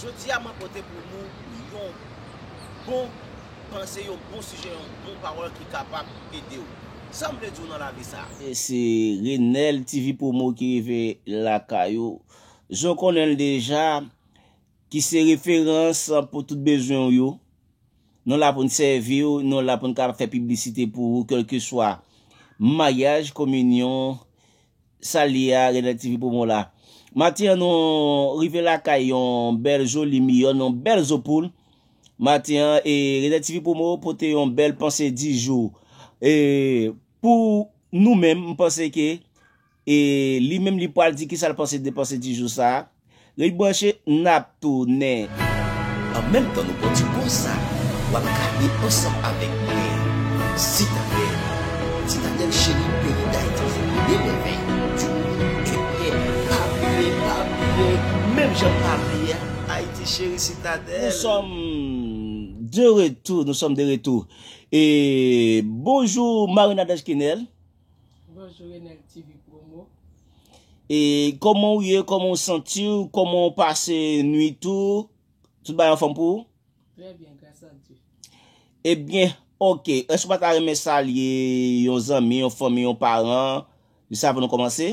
Jodi a mwen pote pou nou yon bon panse, yon bon sijè, yon bon pawòl ki kapab ede w. Sa m vle di w nan lavi sa a? Se Renel TV Promo ki rive lakay ou. Jan w konnen l deja, ki se referans pou tout bezwen w yo. Nou la pou n sèvi w, nou la pou n ka fè piblisite pou ou kèlkeswa maryaj, kominyon, sa l ye a Renel TV Promo la. Maten an nou rive lakay yon bèl joli miyòn, yon bèl zo poul. Maten an e Renel TV Promo pote yon bèl panse di jou. E pou nou menm m panse ke E li menm li pwal di kisal panse de panse ti jou sa. Rete branche nap tounen. An menm tan nou pran ti poz sa wap gade ansanm avèk mwen Citadelle Citadelle chérie peyi Dayiti fè premye mèvèy du mond ebyen pa bliye pa bliye menm janm pa bliye Haïti chérie Citadelle. Nou sòm de retou nou sòm de retou e bonjou Marie Nadège Kenel. Bonjou Enel TV promo. E koman ou ye, koman ou santi ou, koman ou pase nwit ou, tout bagay anfòm pou ou? Trè byen, gras a Dye. E byen, ok, èske ou pa ta renmen salye yon zanmi, yon fanmi, yon paran, jis avan nou kòmanse?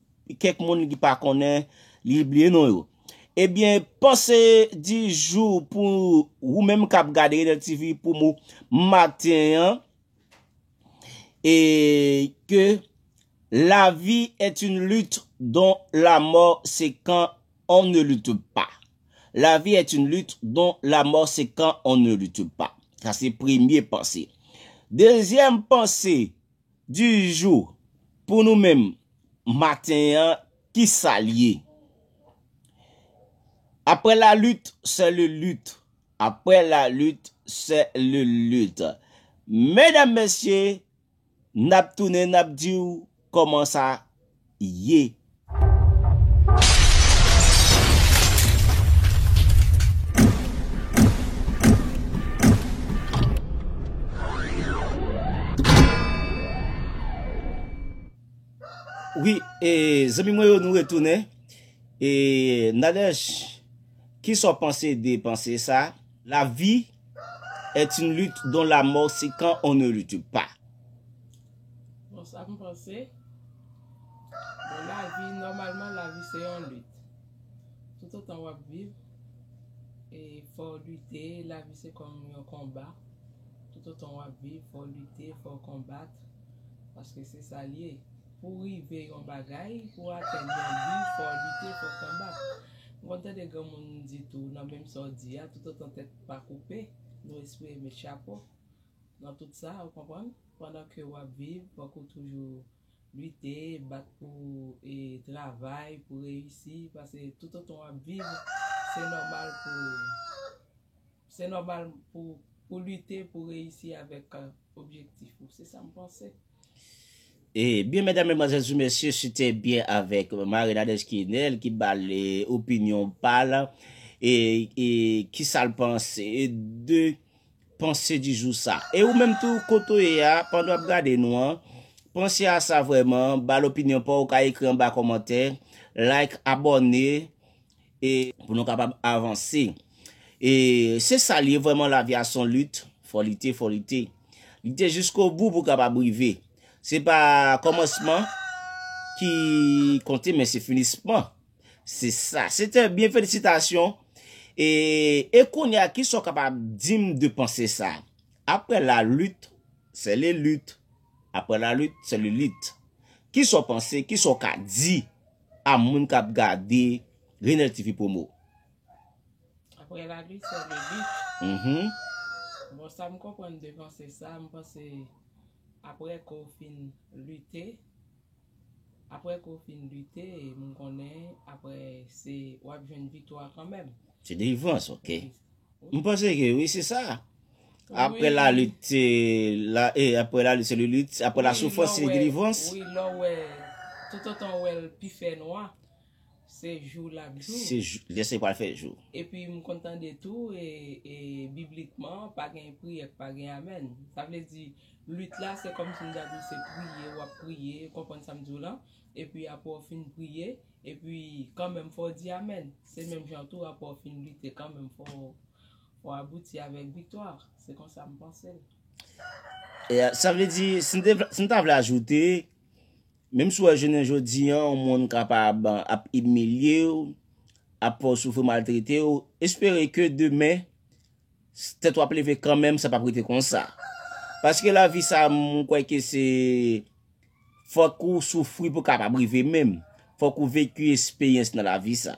Kèk moun ki pa konnen li bliye non yo. Ebyen panse di jou pou ou menm kap gade Enel TV pou mou maten an e ke la vi et une lutte don la mò se kan on ne lutte pa. La vi et une lutte don la mò se kan on ne lutte pa. Sa se premye panse. Dezyèm panse. Du jour, pou nou menm, maten an, ki sa l ye? Après la lutte, c'est le lutte. Après la lutte, c'est le lutte. Medam, mesye, n ap tounen, n ap di w kòman sa. ye. Wi e zanmi mwen yo nou retounen e Nadège kisa w panse de panse sa la vi et une lutte dont la mort se kan on ne lutte pas. Bon sa m panse, bon lavi nòmalman lavi se yon lit. Toutotan w ap viv e fò w lite, lavi se kòm yon konba. Toutotan w ap viv fò w lite, fò w konbat paske se sa l ye. Pou w rive yon bagay, pou w atenn yon bi fò w lite, fò w konbat. M konn tande granmoun di tou nan menm sa w di a, toutotan tèt pa koupe nou espere met chapo nan tout sa, ou konprann. Pandan ke w ap viv, fòk ou toujou lite, bat pou w e travay pou w reyisi, pase toutotan w ap viv, se nòmal pou w, se nòmal pou w, pou w lite pou w reyisi avèk objektif ou. Se sa m panse. E byen medam medmwazèl sou mesye si te byen avèk Marie Nadège Kinel ki ba l opinyon pa l e ki sa l panse de Panse di jou sa. E ou menm tou kote ou ye a, pandan wap gade nou an, panse a sa vrèman, ba l opinyon pa w, ou ka ekri anba kòmantè, like, abòne, e pou nou kapab avanse. E se sa l ye vrèman lavi a son lit, fò lite, fò lite. Lite jiskobou pou kapab rive. Se pa kòmansman ki konte men se finisman. Se sa. Se trè byen felisitasyon. E e kounye a kisa w kapab di m de panse sa? Aprè la lit, sè le lit. Aprè la lit, sè le lit. Kisa w panse, kisa w ka di a moun k ap gade Renel TV Promo? Aprè la lit, sè le lit. Bon sa m konprann de panse sa, m panse aprè ke w fin lite. Aprè ke w fin lite m konnen aprè se wap jwenn viktwa kanmenm. Se delivrans ok. M panse ke wi se sa. Aprè la lit se la e aprè la lit se le lit aprè la soufrans se delivrans. Wi lè w wè tout otan w wè l pi fè nwa. Se jou l ap jou. Se jou, lè sa li pral fè jou. Epi m konn tande tou e biblikman pa gen priyè k pa gen amèn. Sa vle di lit la se kòmsi m ta di se priye w ap priye, ou konprann sa m di w lan? Epi apre w fin priye, epi kanmenm fò w di amèn. Se menm jan tou apre w fin lite kanmenm fò w abouti avèk viktwa. Se konsa m panse l. Sa vle di, si m ta vle ajoute. Menm si w wè jounen jodi an yon moun kapab ap imilye w, ap fè w soufri, maltrete w, espere ke demen tèt ou ap leve kanmenm sa pap rete konsa. Paske lavi sa m kwè ke se fòk ou soufri pou kapab rive menm. Fòk ou veki esperyans nan lavi sa.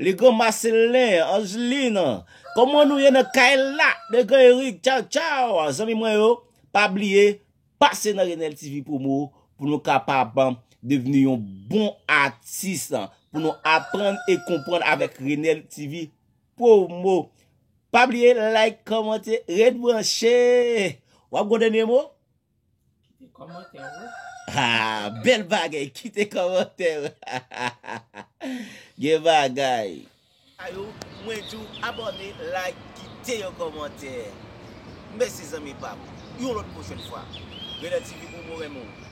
Le grand Marcelin, Angeline, kòman nou ye nan kay la? Le grand Eric, ciao ciao, zanmi mwen yo, pa bliye pase nan Renel TV Promo pou nou kapab devni yon bon atis, pou nou aprann e konprann avèk Renel TV Promo. Pa bliye like, kòmante, ret branche! Wap gen yon dènye mo? Kite komantè ou. Ha bel bagay kite komantè ou ha ha ha gen bagay. Sa yo mwen di w abone like kite yon komantè mesi zanmi pam yon lot pwochen fwa Rena TV pou mwen renmen w.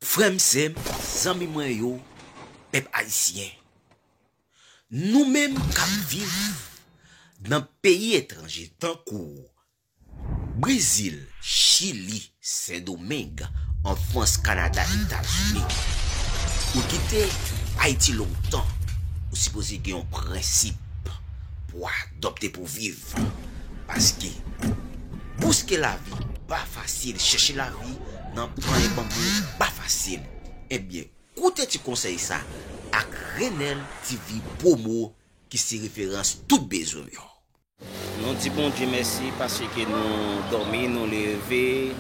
Frè m, sè m, zanmi mwen yo, pèp ayisyen, nou menm k ap viv nan peyi etranje tankou, Brezil, Chili, Sendomeng, an Frans, Kanada, Etazini, ou kite Ayiti lontan, ou sipoze gen yon prensip pou a. Dòpte pou viv paske bouske lavi pa fasil chèche lavi nan panye banbou pa fasil ebyen koute ti konsèy sa ak Renel TV promo ki se referans tout bezwen w yo. Nou di Bondye mèsi paske nou dòmi nou leve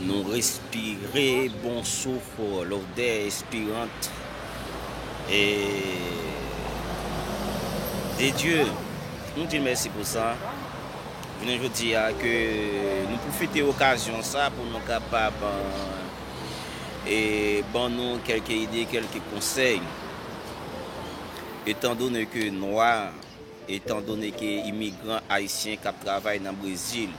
nou respire bon souf lodè espirant de Dye nou dil mèsi pou sa jounen jodi a ke nou pwofite okazyon sa pou nou kapab ban nou kelke ide kelke konsèy etan done ke nwa Etan done ke imigran ayisyen kap travay nan Brezil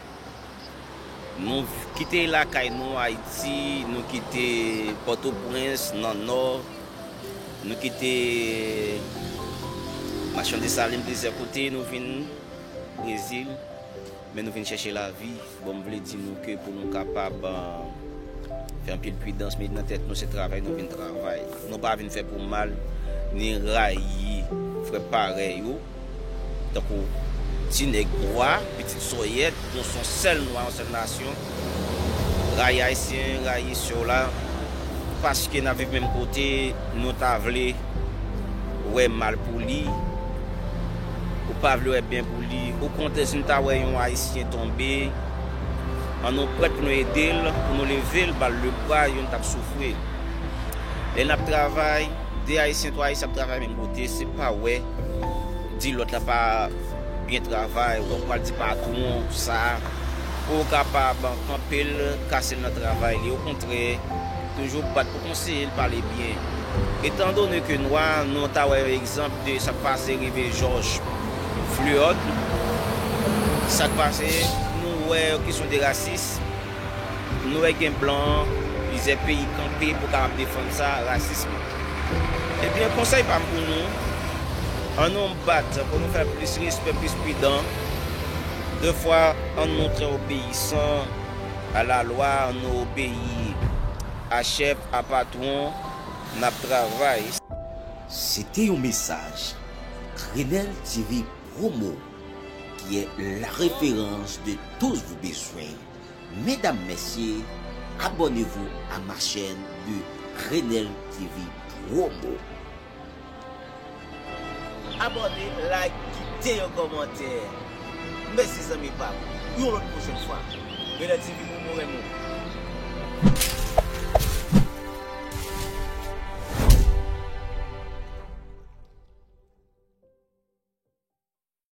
nou kite lakay nou Ayiti, nou kite Pòtoprens nan Nò, nou kite Machan Desalin plizyè kote nou vin Brezil. Men nou vin chèche lavi, bon m vle di nou ke pou nou kapab fè anpil pridans, mete nan tèt nou se travay nou vin travay. Nou pa vin fè pou mal, ni rayi frè parèy ou, tankou ti nèg nwa, pitit sòyèt, nou son sèl nwa, yon sèl nasyon. Rayi ayisyen rayi sew la paske nap viv menm kote nou ta vle wè mal pou li ou pa vle wè byen pou li o kontrè si nou ta wè yon ayisyen tonbe an nou prèt pou nou edel pou nou level bal le bra youn tap soufri lè nap travay 2 ayisyen 3 ayisyen ap travay menm kote se pa wè di lòt la pa Byen travay wap pral di patron sa pouw kapab kanpel kasel nan travay li okontrè toujou bat pou konseyel pale byen etan done ke nwa nou ta wè yon egzanp de sak pase rive jòj fluod sak pase nou wè yon kesyon de rasis nou wè gen blan plizyè peyi kanpe pou kapab defann sa rasism ebyen konsèy pam pou nou an nou. Bat pou nou fè plis respè, plis pridan. De fwa, ann nou trè obeyisan a lalwa, ann nou obeyi a chèf, a patwon n ap travay. Se te yon mesaj Grenèl TV Promo ki est la référence de tous vos besoins Medam mesye abonnez vous à ma chaîne de Grenèl TV Promo. Abòne, like, kite yon kòmantè. Mèsi zanmi pam. Yon lòt pwochèn fwa. Genlè TV pou mwen renmen w.